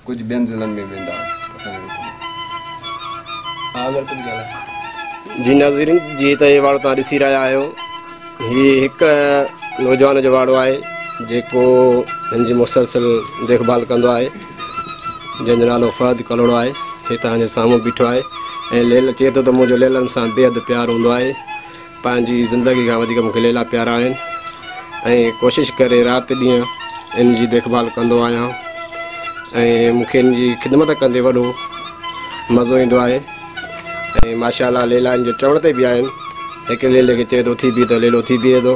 ڪجهه ٻين ضلعن ۾ ويندا اسان جي ملڪ ۾ جي ناظرين جي ته هي واڙو تان ڏسي رهيا آهيو هي هڪ نوجوان جو واڙو آهي جيڪو هن جي مسلسل ديکڀال ڪندو آهي جنهن جو نالو فهد ڪلهوڙو آهي، هي توهان جي سامهون بيٺو آهي ۽ ليلا چئي ٿو ته منهنجو ليلن سان بيحد پيار هوندو آهي. پنهنجي زندگي کان وڌيڪ مون کي ليلا پيارا آهن ۽ ڪوشش ڪري رات ڏينهن ان جي ديک ڀال ڪندو آهيان ۽ مون کي ان جي خدمت ڪندي وڏو مزو ايندو آهي ۽ ماشاء الله ليلا ان جي چوڻ تي بيهندا آهن. هڪ ليلي کي چئي ٿو اٿي بيهه ته ليلو اٿي بيهي ٿو.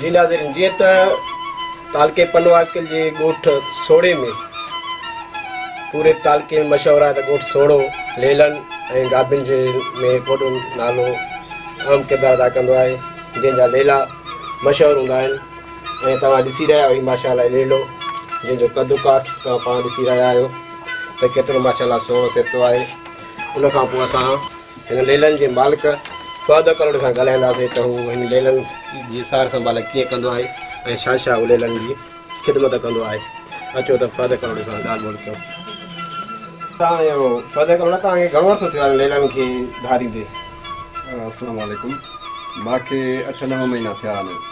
جي ناظرين جيئن ته تعلقي پنواڪل جي ڳوٺ سوڙي ۾ پوري تعلقي ۾ مشهور آهي ته ڳوٺ سوڙو ليلن ۽ گابين جي ۾ هڪ وڏو نالو اهم ڪردار ادا ڪندو آهي جنهن جا ليلا مشهور هوندا آهن ۽ توهان ڏسي رهيا آهيو ماشا الله ليلو جنهن جو قد ڪاٺ توهان پاڻ ڏسي رهيا آهيو ته ڪيترو ماشا الله سهڻو سهتو آهي ان کان پوء اسان هن ليلن جي مالڪ فهد ڪلهوڙي سان ڳالهائينداسين ته هو هن ليلن جي سار سنڀال ڪيئن ڪندو آهي ۽ شهنشاهه ليلن جي خدمت ڪندو آهي اچو ته فهد ڪلهوڙي سان ڳالهه ٻولهه ڪيون تانيو فهد ڪلهوڙا توهان کي گهڻو عرصو ٿيو آهي ليلن کي ڌاريندي السلام عليڪم مانکي اٺ نو مهينا ٿيا آهن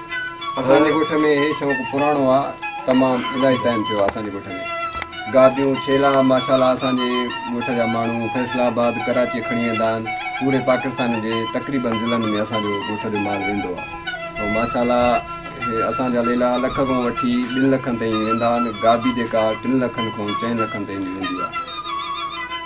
اسان جي ڳوٺ ۾ هي شوق پراڻو آ تمام الائي ٽائيم ٿيو آ اسان جي ڳوٺ ۾ گاديون ڇيلا ماشاءالله اسان جي ڳوٺ جا ماڻهو فيصل آباد ڪراچي کڻي ويندا آهن پوري پاڪستان جي تقريبن ضلعن ۾ اسان جو ڳوٺ جو مال ويندو آ ۽ ماشاءالله هي اسان جا ليلا لک کان وٺي ٻن لکن تائين ويندا آهن گادي جيڪا ٽن لکن کان چئن لکن تائين به ويندي آ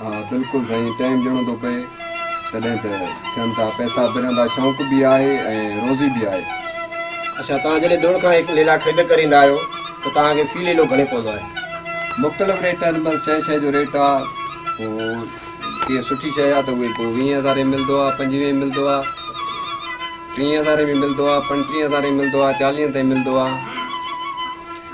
ها بلڪل سائين ٽائيم ڏيڻو ٿو پئي تڏهن ته ٿين ٿا پئسا به رهندا شونق به آهي ۽ روزي به آهي. اڇا توهان جڏهن دڙ کان هڪ ليلا خريد ڪريندا آهيو ته توهان کي في ليلو گهڻي پوندو آهي؟ مختلف ريٽ آهن بس شئي شئي جو ريٽ آهي پوء ڪي سٺي شئي آهي ته اهي پوء ويهين هزارين ۾ ملدو آهي پنجويهين ملدو آهي ٽيهين هزارين ۾ ملدو آهي پنٽيهين هزارين ۾ ملدو آهي چاليهين تائين ملدو آهي.